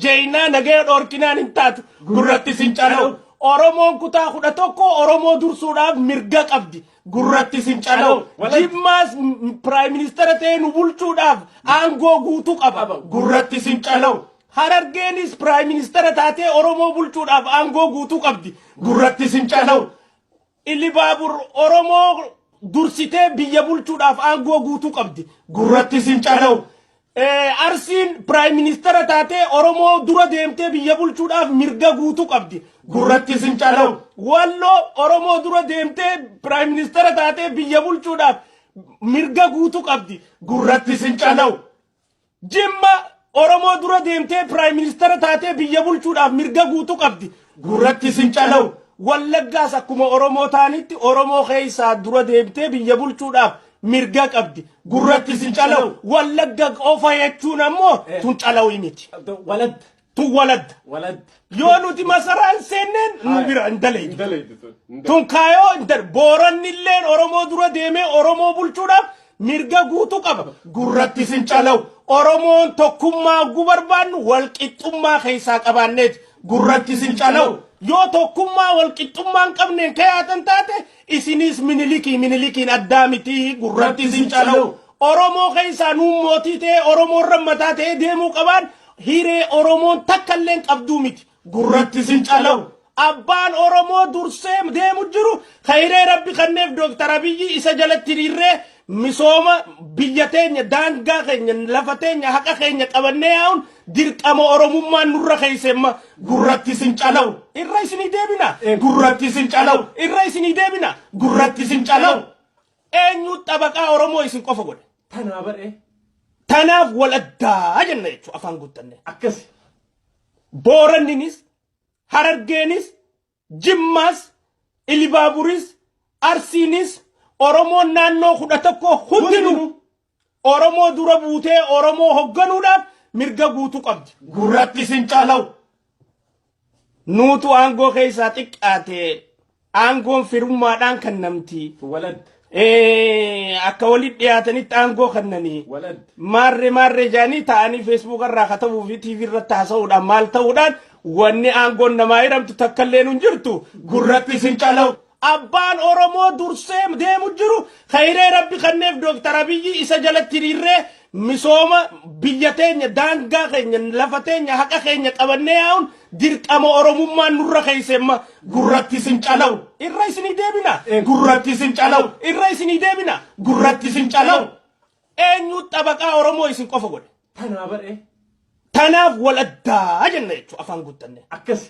Jeynaa nagaya dhoorkinaan hin taatu. Gurratti sin cana'u. Oromoon kutaa kudha tokko Oromoo dursuudhaaf mirga qabdi. Gurratti sin cana'u. Jimmaas piraayim ministeera ta'ee nu bulchuudhaaf aangoo guutuu qaba. Gurratti sin cana'u. Harargeenis piraayim ministeera taatee Oromoo bulchuudhaaf aangoo guutuu qabdi. Gurratti sin cana'u. Ilibaabur Oromoo dursitee biyya bulchuudhaaf aangoo guutuu qabdi. Gurratti isin calawu. Eh, Arsiin piraayim ministeera taatee Oromoo dura deemtee biyya bulchuudhaaf mirga guutuu qabdi. Gurratti isin calawu. Walloo Oromoo dura deemtee piraayim ministeera taatee biyya bulchuudhaaf mirga guutuu qabdi. Gurratti isin calawu. Jimma Oromoo dura deemtee piraayim ministara taatee biyya bulchuudhaaf mirga guutuu qabdi. Gurratti isin calawu. Wallaggaas akkuma Oromoo taanitti Oromoo keessaa dura deemtee biyya bulchuudhaaf mirga qabdi. Gurratti isin calawu. Wallagga qofa jechuun ammoo tun calawii miti. Walad. tun waladda Walad. yoo nuti masaraan seenneen nu Haa. bira hin dalaydu Indalaydu tun. Indalaydu. tun kaayoo hin dal boorannilleen oromoo dura deemee oromoo bulchuudhaaf mirga guutuu qaba gurratti sin calawu oromoon tokkummaa gu barbaannu walqixxummaa keessaa qabaanneeti gurratti sin calawu yoo tokkummaa walqixxummaa hin qabneen kayaatan taate isiniis minilikiin minilikiin addaa mitii gurratti sin calawu Oromoo keessaa nuun mootii ta'ee Oromoo irra mataa ta'ee deemuu qabaan hiree Oromoon takka illee hin qabduu miti. Gurratti sin calawu. Abbaan Oromoo dursee deemu jiru ka hiree rabbi kanneef Dooktar Abiyyi isa jalatti hiriirree misooma biyya teenya daangaa keenya lafa teenya haqa keenya qabannee yaa'uun dirqama Oromummaan nurra keessemma gurratti sin calawu. Irra isinii deebina. Gurratti sin calawu. Irra isinii deebina. Gurratti sin calawu. Eenyu xabaqaa Oromoo isin qofa godhe? Tanaa baree. Tanaaf wal addaa jenna jechuun afaan guuttannee. Akkasi. Booranninis, Harargeenis, Jimmaas, Ilibaaburis, Arsiinis, Oromoon naannoo kudha tokko hundinuu Oromoo dura buutee Oromoo hogganuudhaaf mirga guutuu qabdi. Gurratti sin caalaw. Nuutu aangoo keessaa xiqqaate aangoon firummaadhaan kennamti. Walad. Eh, Akka walitti dhiyaatanitti aangoo kennanii. Walad. Maarree maarree jaanii taa'anii feesbuuka irraa katabuu fi tiivii irratti haasa'uudhaan maal ta'uudhaan wanni aangoon namaa hiramtu takka illee hin jirtu gurratti sin caalaw. Abbaan Oromoo dursee deemu jiru kayree rabbi kanneef Dooktar Abiyyi isa jalatti hiriirree misooma biyya teenya daangaa keenya lafa teenya haqa keenya qabannee yaa'uun dirqama Oromummaan nurra keessa imma gurratti isin calawu irra isinii deebina gurratti isin calawu irra isinii deebina gurratti isin calawu eenyu xabaqaa Oromoo isin qofa godhe Tanaa baree tanaaf wal addaa jenna jechuudha afaan guuttanne. akkasi.